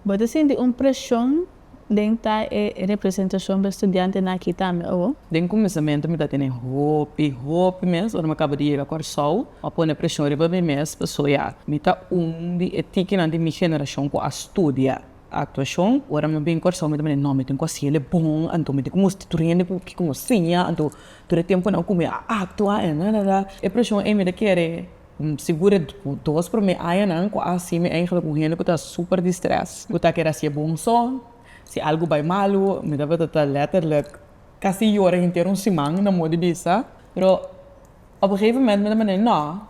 Bo ta sinti un presion den ta e representacion pa e studiantenan aki tambe, abo? Den cuminsamentu mi ta tene hopi, hopi mes, ora mi a caba di yega Corsou, mi a pone presion riba mi mes pa soya. Mi ta un di e tikinan di mi generacion cu a studia actuacion. Ora mi a bin Corsou mi ta mira, no, mi tin cu a hacele bon, anto mi tin cu mustra tur hende cu kico mi a siña, anto tur e temponan cu mi a actua, e presion ey mi ta kere. Segura ku dos promé añanan ku así mi eingelik un hende ku ta super distress, ku ta kere hacié bon so, si algu bai malu mi tabata ta letterlijk kasi yora henter un siman na modi bisa, pero op un gegeven moment mi ta manera no,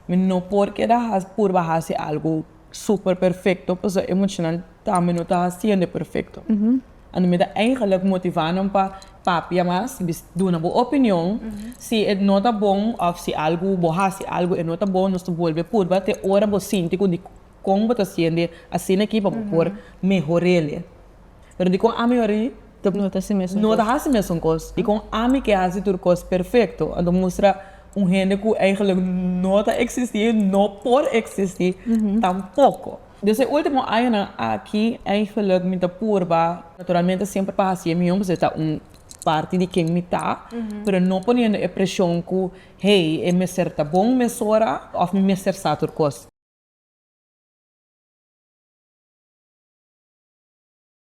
mi no por keda purba haci algu super perfecto pasobra emocional tambe no ta haciendo perfecto. Anto mi ta eigenlijk motivá nan pa papia mas, bis duna bo opinion. Si e no ta bon òf si algu, bo hasi algu e no ta bon, nos ta bolbe purba te ora bo sinti ku di kon bo ta siente asina aki pa bo por mehor'ele. Pero dikon ami hora'i ta No ta hasi mesun kos. no ta hasi mesun kos i kon ami ke hasi tur kos perfekto, anto mustra un hende ku eigenlijk no ta eksistí, no por eksistí tampoko. Des e ultimo añanan aki ei geluk mi ta purba, naturalmente siempre pa haci e mion pasobra ta un parti di ken mi ta, pero no poniendo e presion cu hey e mester ta bon mesora of mi mester sa tur cos.